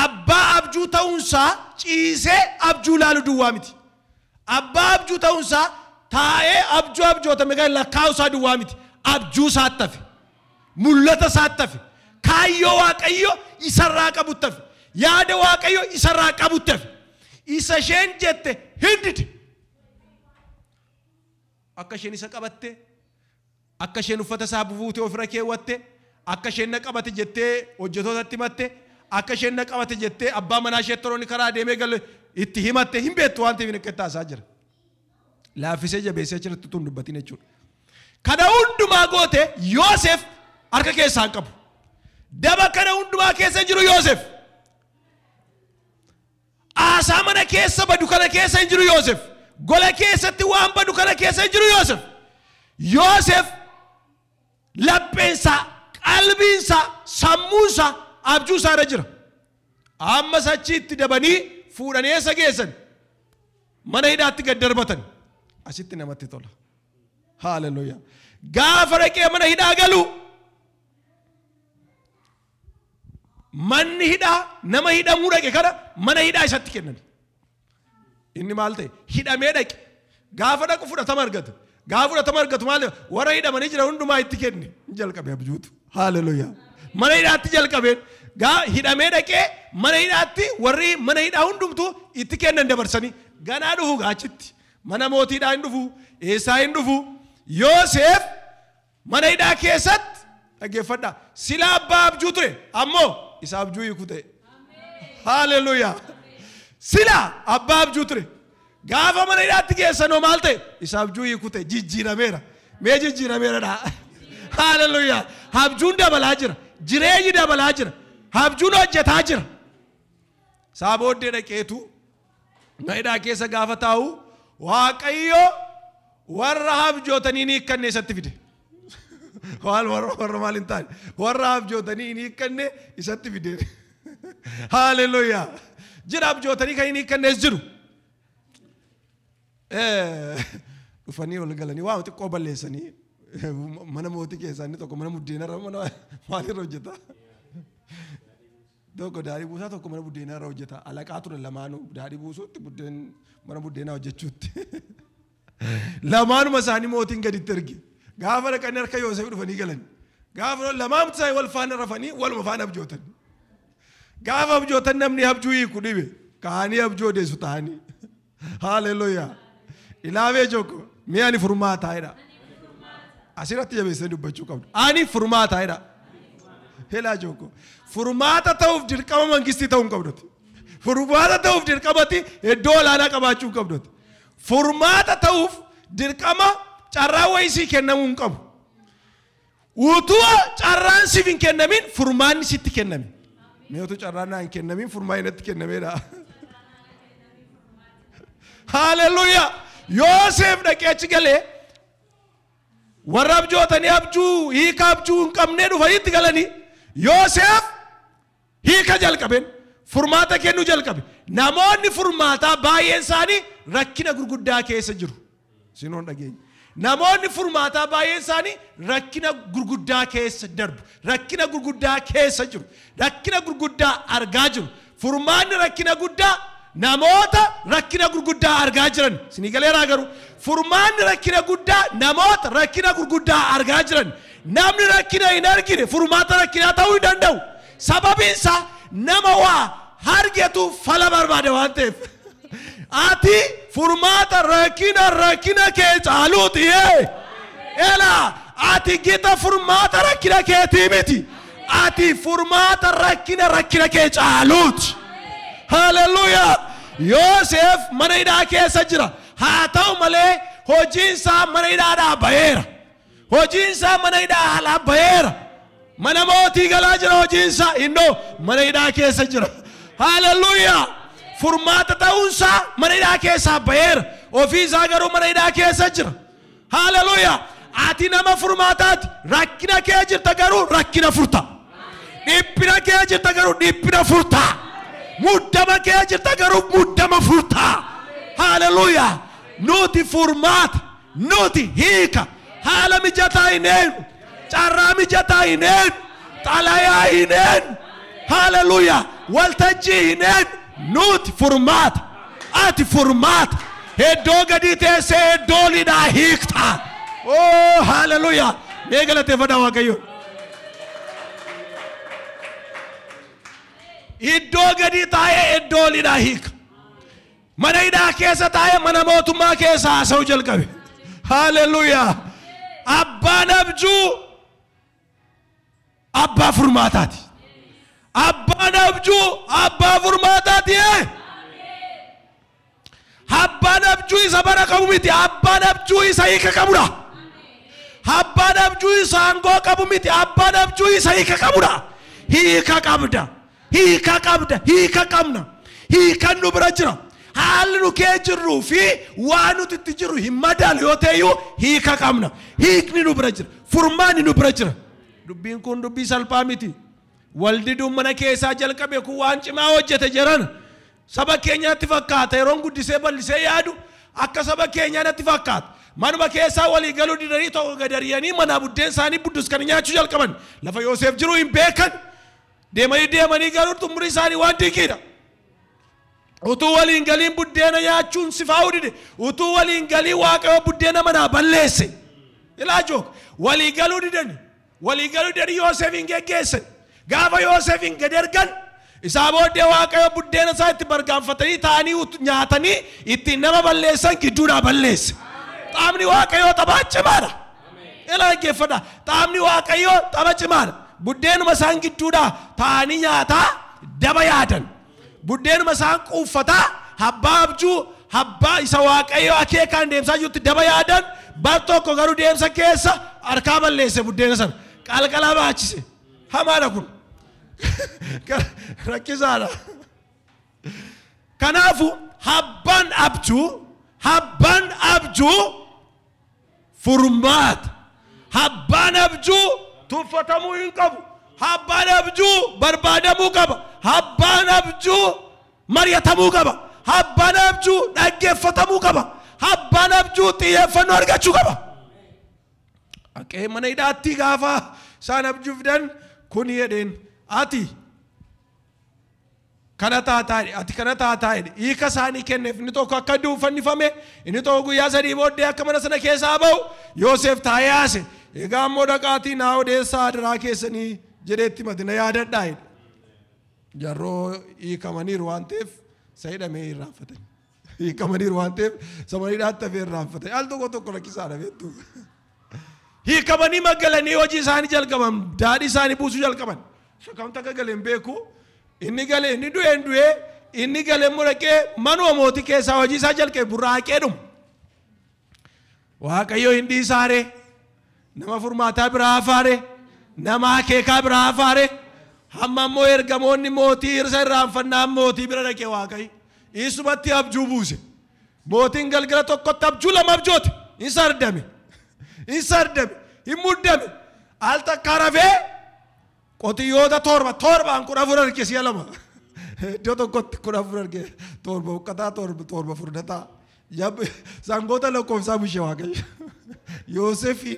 A: abbaa abjuu ta'uun isaa ciisee abjuu ilaalu duwwaa miti. Abbaa abjuu ta'uun isaa taa'ee abjuu abjootame kan lakkaa'u isaa duwwaa miti. Abjuu isaatti hafe. Mul'ata isaatti hafe. Kaayyoo Waaqayyo isarraa qabutti hafe. Yaada Waaqayyo isarraa qabutti hafe. Isa isheen jette hin dide. Akka isheen isa qabatte, akka isheen uffata isaa bubuute ofirra keewwatte, akka isheen na qabate jettee hojjetootatti himatte, akka isheen na qabate jettee abbaa manaa ishee toroonni karaa deemee galu itti himatte hin beektu waan ta'eef akka itti haasaa jira. Laaffisee jabeessee achirratti utuu hin dubbatin jechuudha. Kana hundumaa goote Yoosef harka keessaa hin qabu. Daba kana hundumaa keessa jiru Yoosef. Aasaa mana keessa badu kana keessa hin jiru Yoosef. Gola keessatti waan badu kana keessa hin jiru Yoosef. Yoosef lapheensaa, qalbiinsaa, sammuunsaa, abjuusaa irra jira. Ammas achiitti dabanii fuudhanii eessa geessan? Mana hidhaatti gad darbatan. Asitti namatti tola. Haaleluyyaa. Gaafa dhaqee mana hidhaa galu Manni hidhaa nama hidhamuu dhaqe kana mana hidhaa isatti kenname. Inni maal ta'e? Hidhamee dhaqe. Gaafa dhaqu fudhatama argate. Gaafa fudhatama argatu maal warra hidhamanii jiran hundumaa itti kenne. Ni jalqabe abjuutu. Haaleluyaa. Mana hidhaatti jalqabeen. Gaa hidhamee dhaqee mana hidhaatti warri mana hidhaa hundumtuu itti kennan dabarsanii ganaa dhufu gaachitti. Mana mootiidhaa hin dhufu. Eessaa hin dhufu. Yooseef Mana hidhaa keessatti, dhaggeeffadhaa, silaa abbaa abjuu ture, ammoo isa abjuu hiiku ta'e. Haaleluyyaa! Silaa abbaa abjuu ture. Gaafa mana hidhaatti geessanoo maal ta'e? Isa abjuu hiiku ta'e, jijjiirameera. Mee jijjiirameera dhaa? Haaleluyyaa! Abjuun dabalaa jira. Jireenyi dabalaa jira. Abjuun hojjetaa jira. Isaa booddee dhaqeetu Mana hidhaa keessa gaafa taa'u Waaqayyo warra habjootanii hin hiikkanne isatti fide. Waan warra warra maal hin taane warra habjootanii hin hiikkanne isatti fide. Haaleluyyaa. Jira habjootanii kan hin hiikkannes jiru. Eh, Dhufanii ol galanii waa xiqqoo balleessanii mana mootii keessaa inni tokko mana muddeenarra mana maaliirra hojjeta. Tokko daadhii buusaa tokko mana buddeenaa irra hojjeta. Alaqaa turan lamaanuu daadhii buusuutti buddeen mana buddeenaa hojjechuutti. Lamaanuma isaanii mootiin gaditti erge. Gaafa dhaqanii harka Yooseef dhufanii galan. Gaafa lamaamti isaanii wal faana rafanii waluma faana abjootan. Gaafa abjootan namni abjuu hiiku dhibe. Kaanii abjuu odeessu ta'anii. Haaleluyyaa. Ilaamee jooko mee ani furmaataa jedha. Asirratti jabeessee dubbachuu qabdu. Ani furmaataa jedha. Helaa jooko. Furmaata ta'uuf dirqama mangistii ta'uu hin qabduti. Furmaata ta'uuf dirqamatti iddoo olaanaa qabaachuu hin qabduti. Furmaata ta'uuf dirqama carraa wayisii kennamuu hin qabu. Utuu carraan siif hin kennamin furmaanni sitti kenname. Mee utuu carraan naa hin kennamin furmaanni natti kennameedha. Haaleluyyaa! Yooseef dhaqee achi galee warra abjootanii abjuu hiika abjuu hin qabnee dhufanitti galanii Yooseef Hiika jalqabeen furmaata kennuu jalqabe. Namoonni furmaataa baay'een isaanii rakkina gurguddaa keessa jiru. Sinoon dhageenya. Namoonni furmaataa baay'een isaanii rakkina gurguddaa keessa darbu. Rakkina gurguddaa keessa jiru. Rakkina gurguddaa argaa jiru. Furmaanni rakkina guddaa namoota rakkina gurguddaa argaa jiran. Sinii galeeraa garuu furmaanni rakkina guddaa namoota rakkina gurguddaa argaa jiran. Namni rakkina hin argine furmaata rakkinaa ta'uu hin danda'u. Sababiin isaa nama waa hargetu fala barbaada waan ta'eef. Ati furmaata rakkina rakkina kee caaluuti. Ela ati gita furmaata rakkina keetii miti. Ati furmaata rakkina rakkina kee caaluuti. Haleluuyaa! Yoosef mana hidhaa keessa jira. Haa ta'u malee hojiin isaa mana hidhaadhaa ba'eera. Hojiinsaa mana hidhaa haalaa baheera. Mana mootii galaa jira hojiinsaa. Innoo mana hidhaa keessa jira. Haaleluyyaa! Furmaata ta'uunsaa mana hidhaa keessaa baheera. Ofii isaa garuu mana hidhaa keessa jira. Haaleluyyaa! Ati nama furmaataati. Rakkina kee jirta garuu rakkina furta. Dhiphina kee jirta garuu dhiphina furta. Muddama kee jirta garuu muddama furta. Haaleluyyaa! Nuti furmaata. Nuti hiika haala mijataa hin eegnu. Carraa mijataa hin eegnu. Xalayaa hin eegnu. Haleluyaa. Waltajjii hin eegnu. Nuti furmaata. Ati furmaata. Heddoo gadii teessee heddoo olidhaa hiiktaa. Oo haleluyaa. Mee galateeffadhaa Waaqayyoon. Iddoo gadii taa'ee iddoo olidhaa hiika. Mana hidhaa keessa taa'ee mana mootummaa keessa haasa'uu jalqabe. Haaleluyyaa! Abbaan abjuu abbaa furmaataati. Abbaan abjuu abbaa furmaataati. ee! Abbaan abjuu isa bara qabu miti. Abbaan abjuu isa hiika qabudha. Abbaan abjuu isa aangoo qabu miti. Abbaan abjuu isa hiika qabudha. Hiika qabda. Hiika qabda, hiika qabna. Hiikan nu bira jira. Haalli nu kee jirruu fi waan nuti itti jirru hin madaalu yoo ta'eyyuu hiika qabna. Hiikni nu bira jira. Furmaanni nu bira jira. Dubbiin kun dubbii salphaa miti. Waldiduun mana keessaa jalqabe kun waan cimaa hojjete jedhan. Saba keenya natti fakkaata yeroon guddisee bal'isee yaadu akka saba keenyaa natti fakkaata. Manuma keessaa walii galuu didanii tokko gadariyanii manaa buddeen isaanii buddus kan nyaachuu jalqaban. Lafa Yooseef jiru hin beekan. Deemanii deemanii garuu xumuri isaanii waan dinqiidha. Utuu waliin galiin buddeena nyaachuun sifaa'uu dide. Utuu waliin galii waaqayyo buddeena manaa balleesse. Ilaa jook walii galuu didani. Walii galuu didanii Yoosefiin geggeessan. Gaafa Yoosefiin gad ergan isaa booddee waaqayyo buddeena isaa itti bargaanfatanii taa'anii ut- nyaatanii ittiin nama balleessan gidduudhaa balleesse. Qaamni waaqayyoo taphaa cimaadha. Ila dhaggeeffadhaa. Taabni Waaqayyoo taba cimaadha. Buddeenuma isaan gidduudhaa taa'anii nyaataa daba yaadan. Buddeenuma isaan quuffataa habbaa abjuu habbaa isa Waaqayyo akeekaan deemsaa jirutti daba yaadan bar tokko garuu deemsa keessa harkaa balleesse buddeena sana. Qalqalaa baachise. Hamaadha kun. Rakkisaadha. Kanaafu habbaan abjuu habbaan abjuu Furmaata, Habbaan abjuu tuffatamuu hin qabu. Habbaan abjuu barbaadamuu qaba. Habbaan abjuu mari'atamuu qaba. Habbaan abjuu dhaggeeffatamuu qaba. Habbaan abjuu xiyyeeffannoo argachuu qaba. Haqee mana hidhaatti gaafa isaan abjuu fidan kun jedheen ati Kana taataa jedhe, ati kana taataa jedhe. Hiika isaanii kenneef, inni tokko akka du'u fannifame, inni tokko guyyaa sadii booddee akka mana sana keessaa ba'u Yooseef taa'ee haase. Egaa immoo dhaqaatii naa odeessaa adaraa keessanii jedhee itti himate na yaadadhaa jedhe. Jarroo hiikamaniiru waan ta'eef isa hidhame irraanfatanii. Hiikamaniiru waan ta'eef samaniidhaatti hafee irraanfate. Al tokko tokko rakkisaadha beektu. Hiikamanii magalanii hojii isaanii jalqaban daadhii isaanii buusuu jalqaban. Shakamta akka gale hin beeku. Inni gale inni du'e hin du'e inni gale immoo dhaqee manuma mootii keessaa hojii isaa jalqabe burraaqee dhuma. Waaqayyo hin dhiisaare, nama furmaataa biraa hafaare, nama akeekaa biraa hafaare, hamma immoo ergamoonni mootii irsa irraanfannaan mootii bira dhaqe Waaqayyo. Isumatti abjuu buuse. Mootiin galgala tokkotti abjuu lama abjoote. Hin sardame. Hin sardame. Hin muddame. Al takkaa rafee Qotiyyoota torba torbaan kudha afur arge si'a lama. Iddoo tokkotti kudha afur arge torba huqqataa torba torba furdataa. Yab- Sangoota lakkoofsaa bushe waaqayyo. Yoosefi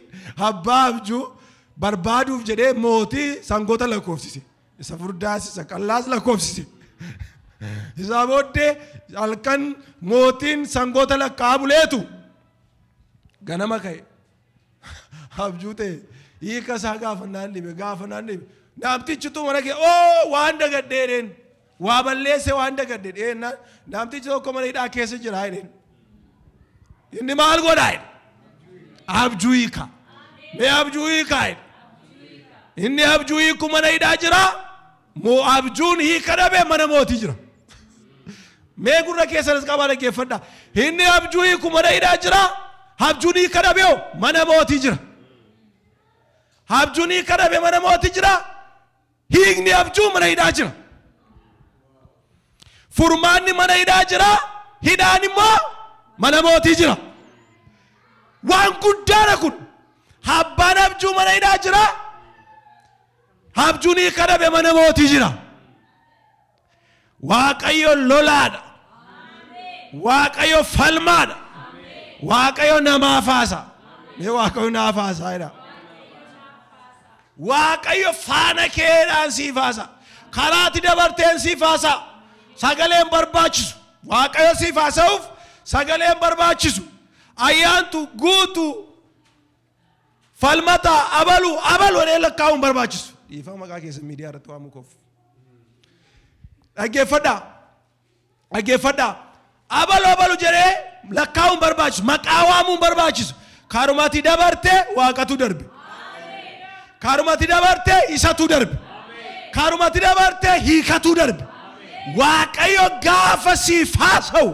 A: abbaa abjuu barbaaduuf jedhee mootii sangoota lakkoofsise. Isa furdaas isa qallaas lakkoofsise. Isaa booddee halkan mootiin sangoota lakkaa'aa buleetu ganama ka'e. Abjuu ta'e hiika isaa gaafa naan dhibe gaafa naan dhibe naamtichitu mana kee oo waan dagadhee dheen waa balleesse waan dagadhe dheen naamtichi tokko mana hidhaa keessa jira dheen inni maal godhaa jedhe abjuu hiika mee abjuu hiikaa jedhe inni abjuu hiiku mana hidhaa jiraa Moo'aab juun hiika dhabe mana mootii jira. Mee gurra keessanis qabaa dhaggeeffadha. Inni abjuu hiiku mana hidhaa jira. Abjuun hiika dhabe hoo mana mootii jira. Abjuun hiika dhabe mana mootii jira. Hiikni abjuu mana hidhaa jira. Furmaanni mana hidhaa jira. Hidhaan immoo mana mootii jira. Waan guddaadha kun. Abbaan abjuu mana hidhaa jira. Habjunii kadhabe mana mootii jira. Waaqayyo lolaadha. Waaqayyo falmaadha. Waaqayyo namaaf haasa. Mee Waaqayyo naaf haasaa jedha. Waaqayyo faana keedhaan siif haasa. Karaatti dabarteen siif haasa. Sagaleen barbaachisu. Waaqayyo siif haasa'uuf sagaleen barbaachisu. Ayyaantu guutuu Falmataa, abalu, abalu jedhee lakkaa'uu hin barbaachisu. Dhiifama maqaa keessan miidiyaa irratti waamuu koof. Dhaggeeffadhaa. Dhaggeeffadhaa. Abalu abalu jedhee lakkaa'uu hin barbaachisu. Maqaa waamuu hin barbaachisu. Karumati dabarte waaqatu darbe. Karumati dabarte isatu darbe. Karumati dabarte hiikatu darbe. Waaqayyo gaafa siif haasa'u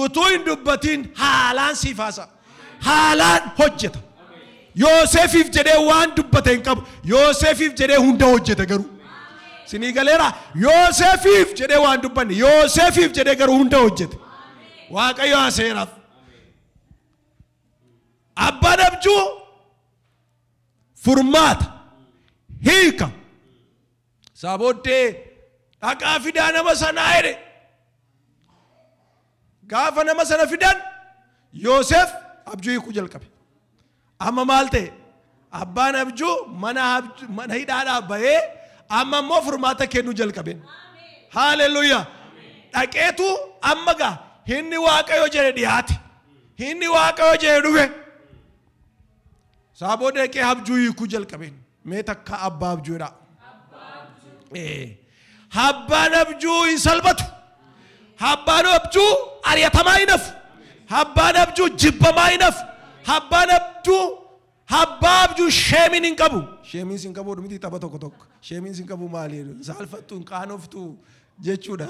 A: utuu hin dubbatiin haalaan siif haasa'a. haalaan hojjeta. Yoosefiif jedhee waan dubbate hin qabu. Yoosefiif jedhee hunda hojjeta garuu. Sinii galeera Yoosefiif jedhee waan dubbanne Yoosefiif jedhee garuu hunda hojjete. Waaqayyo haaseeraaf. Abbaan abjuu furmaata hiika Isaa booddee, Dhaqaa fidaa nama sanaa jedhe. Gaafa nama sana fidan Yoosef abjuu hiikuu jalqabe. Amma maal ta'e? Abbaan abjuu mana, abj- mana hidhaadhaa bahee amma immoo furmaata kennuu jalqabe. Haaleluyyaa! Dhaqeetu amma gaa hinni waaqayyo jedhe dhiyaate. Hinni waaqayyo jedhe dhufe. Isaa booda dhaqee abjuu hiikuu jalqabeen. Mee takka abbaa abjuu jedhaa. Ee, Abbaan abjuu hin salphatu. Abbaan abjuu ari'atamaa hin hafu. Abbaan abjuu jibbamaa hin hafu. Abbaan abjuu abbaa abjuu sheemiin hin qabu. Sheemiin sin qabu miti tapha tokko tokko. Sheemiin sin qabu maali? Saalfattu hin qaanoftu jechuudha.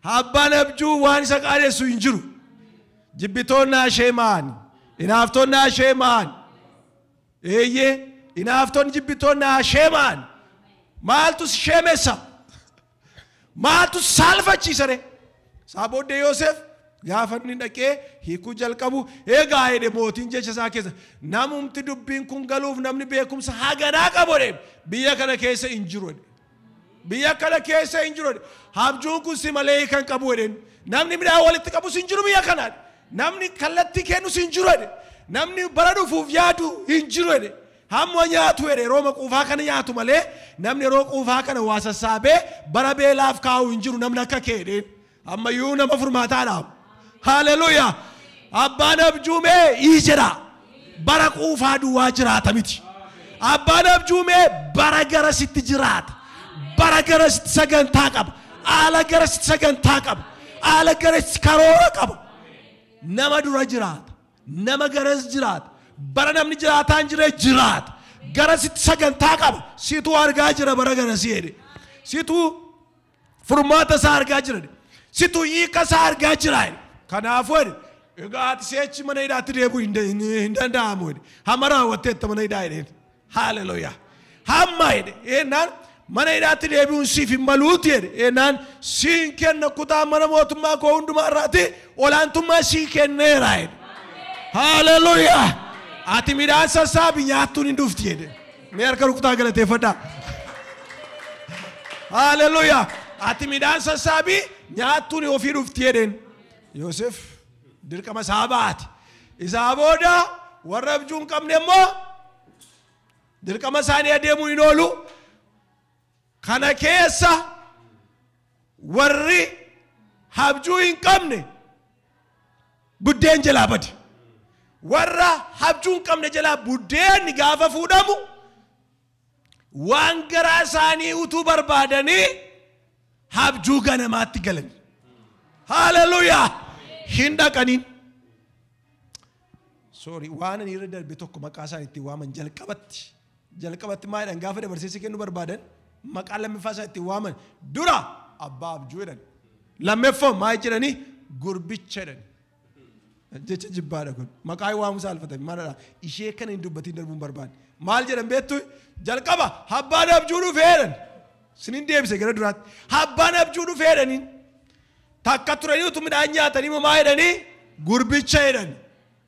A: Abbaan abjuu waan isa qaanessu hin jiru. Jibbitoonni ashee maani. Inaaftoonni ashee maani. Eeyyee, inaaftonni jibbittoonni haa sheema'an. Maaltu si sheemessa? Maaltu si saalfachiisa ree? Isaa booddee Yoosef gaafa inni dhaqee hiikuu jalqabu eegaa jedhe mootiin jecha isaa keessa namumti dubbiin kun galuuf namni beekumsa haganaa qabu jedhe biyya kana keessa hin jiru jedhe. Biyya kana keessa hin jiru jedhe. Habjuun kun si malee hiika hin qabu jedheen. Namni midhaan walitti qabus hin jiru biyya kana jedhe. Namni kallattii kennus hin jiru jedhe. Namni bara dhufuuf yaadu hin jiru jedhe. Hamma nyaatu jedhe yerooma quufaa kana nyaatu malee namni yeroo quufaa kana waa sassaabee bara beelaaf kaa'u hin jiru namni akka kee jedheen. ammayyuu nama furmaataadha haleluya abbaan abjuumee ii jedha bara quufaa duwwaa jiraata miti abbaan abjuumee bara gara sitti jiraata bara gara sitti sagantaa qaba haala gara sitti sagantaa qaba haala gara sitti karoora qaba nama dura jiraata nama garas jiraata bara namni jiraataan jire jiraata gara sitti sagantaa qaba situ argaa jira bara gara si jedhe situ Furmaata isaa argaa jira jedhe. Situ hiika isaa argaa jira jedhe. Kanaafuu jedhe egaa ati si'achi mana hidhaatti deebi'uu hin da- hin- hin danda'amu jedhe. Hamma raawwatteetta mana hidhaa jedheen. Haaleluyyaa. Hamma jedhe eenaan mana hidhaatti deebi'uun siif hin maluuti jedhe eenaan siin kenna kutaa mana mootummaa koo hundumaa irraatti olaantummaa sii kenneera jedhe. Haaleluyyaa. Ati midhaan sassaabi nyaattuun hin dhufti jedhe. Mee harka rukutaa galateeffadhaa. Haaleluyyaa. Ati midhaan sassaabii nyaattuun ofii dhufti jedheen. Yoosef dirqama isaa baate. Isaa booda warra abjuu hin qabne immoo dirqama isaanii adeemuu hin oolu. Kana keessa warri habjuu hin qabne buddeen jalaa bade. Warra habjuu hin qabne jalaa buddeenni gaafa fuudhamu waan garaa isaanii utuu barbaadanii habjuu ganamaatti galan. Haleluyaa! Hin dhaqaniin. Sorry, waan ani irra darbe tokko maqaa isaan itti waaman jalqabatti Jalqabatti maal jedhan gaafa dabarseessi kennu barbaadan maqaa lammiffaa isaa ittiin waaman dura abbaa abjuu jedhan lammeffoo maal jedhanii gurbicha jedhan jecha jibbaadha kun maqaa waamu saalfatame maalidha ishee kana hin dubbatiin darbuun barbaade maal jedhan beektu jalqaba abbaan abjuu dhufee jedhan sinin deebise gara duraatti abbaan abjuu dhufee jedhaniin takka turanii utuu midhaan nyaatanii moo maa jedhanii gurbicha jedhan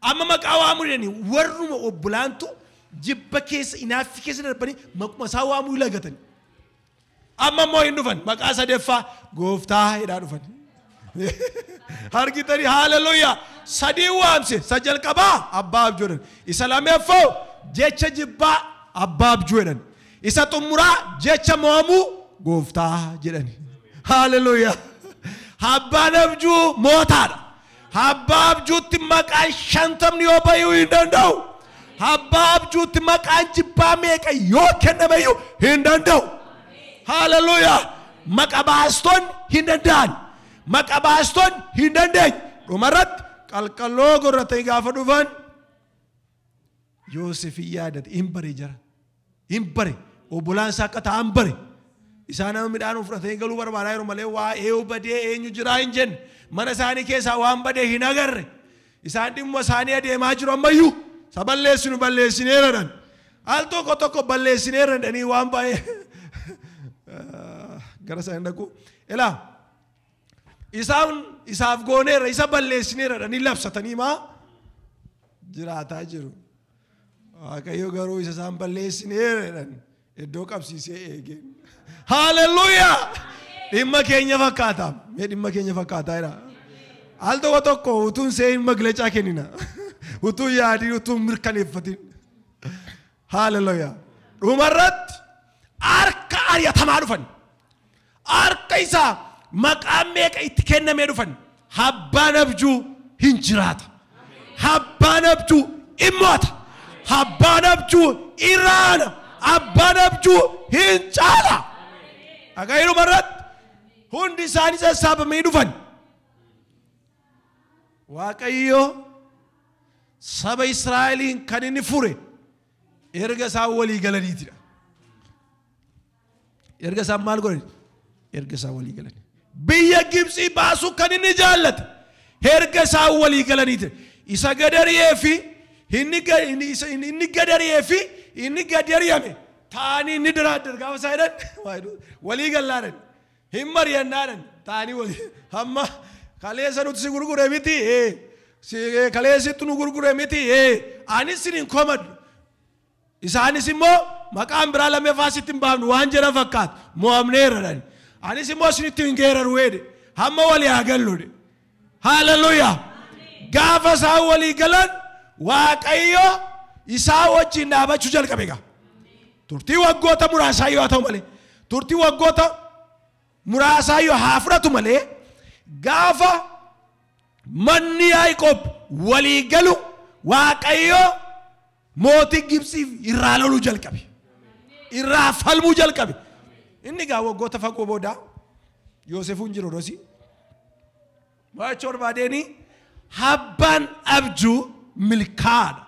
A: Amma maqaa waamuu didanii warruma obbolaantu jibba keessa inaaffi keessa darbanii maquma isaa waamuu lagatani. Amma immoo hin dhufan maqaa sadeeffaa gooftaa jedhaa dhufan. Argitanii haaleluyyaa sadii waamse sa jalqabaa abbaa abjuu jedhan isa lameeffoo jecha jibbaa abbaa abjuu jedhan isa xumuraa jecha mo'amuu gooftaa jedhani. Haaleluyyaa abbaan abjuu mootaadha. Abbaa abjuutti maqaan shantamni yoo bayu hin danda'u. Abbaa abjuutti maqaan jibbaa meeqa yoo kennameyyuu hin danda'u. Haleluuyaa! Maqa baastonni hin danda'an. Maqa baastonni hin dandeenye. Dhumarratti qalqalloo gorratanii gaafa dhufan Yoosef hin yaadate hin bare jara hin bare obbolaan isaa akka ta'an bare isaa nama midhaan fudhatee hin galuu barbaadaa yeroo malee waa eeyu badee eenyu jiraa hin jenne mana isaanii keessaa waan badee hin agarre isaan dhimma isaanii adeemaa jiru ammayyuu isa balleessinu balleessineera dhan al tokko tokko balleessineera dhanii waan baay'ee gara sana hin dhaqu ilaa Isaan isaaf gooneerra isa balleessineerradha ni labsatanii maa jiraataa jiru. Waaqayyo garuu isa isaan balleessineerradhan iddoo qabsiisee eegee. Haaleluyyaa! Dhimma keenya fakkaata. Mee dhimma keenya fakkaataa jira. Al tokko tokko utuun seehin maglacaa kennina. Utuun yaadiin utuun mirkaneeffatin. Haalelooyaa. Dhumarratti harka ari'atamaa dhufan. Harka isaa maqaan meeqa itti kennamee dhufan. Abbaan abjuu hin jiraata. Abbaan abjuu hin mo'ata. Abbaan abjuu hin raana. Abbaan abjuu hin caala. Dhaga'ii dhumarratti hundi isaanii sassaabamanii dhufan. Waaqayyo saba Israa'eliin kan inni fure erga isaan walii galaniitidha. Erga isaan maal godhan? Erga isaan walii galan. Biyya Gibxii baasuu kan inni jaallate erga isaan walii galaniiti. Isa gadariyee fi inni ga- inni isa- inni- inni gadariyee fi inni gadariyame taa'anii inni daraaddan gaafa isaa jedhan walii gallaadhan. Hin mari'annaadhan taa'anii wali hamma kaleessa nuti si gurgure miti ee si ee, kaleessittu nu gurgure miti ee anis sin hin komadhu isaanis immoo maqaan biraa lammaffaa sitti hin baafnu waan jedhan fakkaatu mo'amneerradhan anis immoo sinitti hin geeraru jedhe hamma walii haa gallu jedhe Hallelujah! Gaafa isaan walii galan Waaqayyo isaa wajjin dhaabachuu jalqabe egaa. Turtii waggoota muraasaa yoo haa ta'u malee, turtii waggoota muraasaa yoo haa fudhatu malee, gaafa manni Yaaqoob walii galu Waaqayyo Mootiin Gibtsii irraa loluu jalqabe. Irraa falmuu jalqabe. Inni gaa waggoota fagoo booda Yoosefuun jiru rosi. Mo'achuu barbaadeenii habbaan abjuu milkaa'aadha.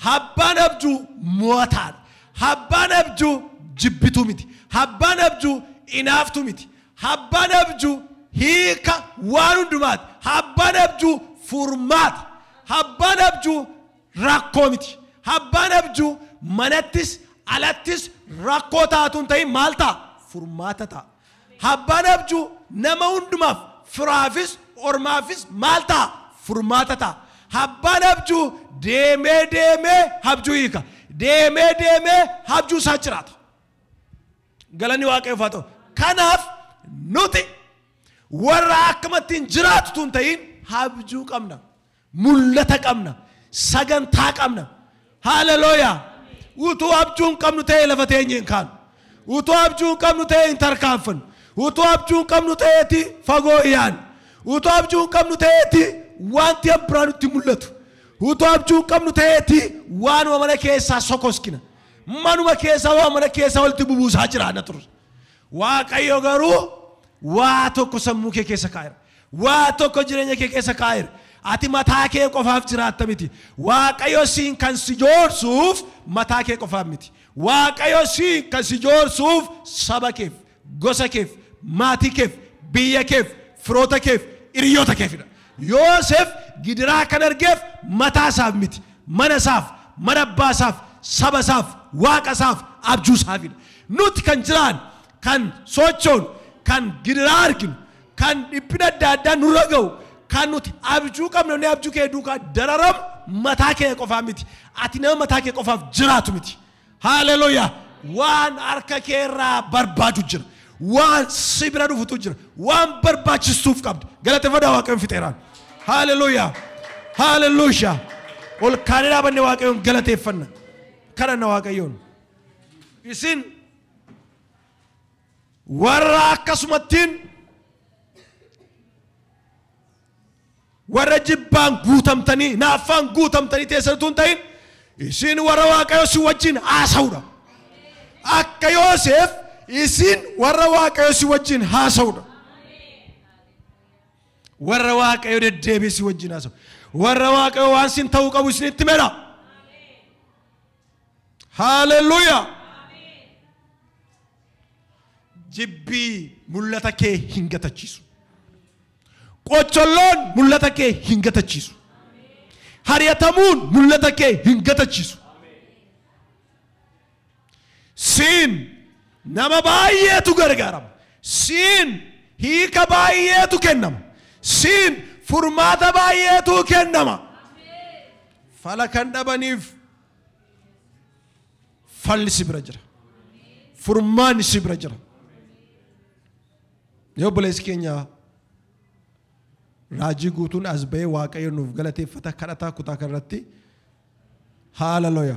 A: Habbaan abjuu mo'ataadha. Habbaan abjuu jibbituu miti. Habbaan abjuu inaaftuu miti. Habbaan abjuu hiika waan hundumaati. Habbaan abjuu furmaata. Habbaan abjuu rakkoo miti. Habbaan abjuu manattis alattis rakkoo ta'a utuu hin ta'in maal ta'a? Furmaata ta'a. Habbaan abjuu nama hundumaaf firaafis ormaafis maal ta'a? Furmaata ta'a. Habbaan abjuu deemee deemee habjuu hiika. Deemee deemee habjuu isaa jiraata. Galanni waaqayyoof haa ta'u. Kanaaf nuti warra akkamattiin jiraatu utuu hin ta'in habjuu qabna. Mul'ata qabna. Sagantaa qabna. Haalelooyaa! Utuu abjuu hin qabnu ta'ee lafa teenye hin kaanu. Utuu abjuu hin qabnu ta'ee hin tarkaanfannu. Utuu abjuu hin qabnu ta'eeti fagoo iyaannu. Utuu abjuu hin qabnu ta'eeti wanti an biraa nutti mul'atu. Utuu abjuu hin qabnu ta'eeti waanuma mana keessaa sokoskina. Manuma keessaa waan mana keessaa walitti bubuusaa jiraanna turre. Waaqayyo garuu waa tokko sammuu kee keessa kaa'eera. Waa tokko jireenya kee keessa kaa'eera. Ati mataa kee qofaaf jiraatta miti. Waaqayyo siin kan si joorsuuf mataa kee qofaaf miti. Waaqayyo siin kan si joorsuuf saba keef, gosa keef, maatii keef, biyya keef, firoota keef, hiriyoota keefidha. Yoosef gidiraa kan argeef mataa isaaf miti. Mana isaaf, mana abbaa isaaf, saba isaaf, waaqa isaaf, abjuu isaafidha. Nuti kan jiraannu, kan sochoonu, kan gidiraa arginu, kan dhiphina adda addaa nurra ga'u, kan nuti abjuu qabnu jennee abjuu keenya duukaa dararamu mataa keenya qofaa miti. Ati nama mataa kee qofaaf jiraatu miti. Haaleluyaa! Waan harka kee irraa barbaadu jira. Waan si bira dhufutu jira. Waan barbaachistuuf qabda. Galateeffadhaa Waaqayyoon fixeeraan. Haaleluyaa! Haaleluyaa! Ol kaanee dhaabanne Waaqayyoon galateeffanna. Kadhanna Waaqayyoon. Isin Warra akkasumattiin warra jibbaan guutamtanii naaffaan guutamtanii teessan utuu hin ta'in isin warra waaqayyo si wajjin haasa'udha. Akka Yooseef isin warra waaqayyo si wajjin haasa'udha. Warra waaqayyo deddeebi'ee si wajjin haasa'u. Warra waaqayyo waan sin ta'uu qabu isinitti mera. Haaleluyyaa! Jibbii mul'ata kee hin gatachiisu. Qocholloon mul'ata kee hin gatachiisu. Hariyatamuun mul'ata kee hin gatachiisu. Siin nama baay'eetu gargaarama. Siin hiika baay'eetu kennama. Siin furmaata baay'eetu kennama. Fala kan dhabaniif falli si bira jira. Furmaanni si bira jira. Yoo obboleessi keenya raajii guutuun as ba'ee waaqayyo nuuf galateeffata kadhataa kutaa kanarratti haalaloya.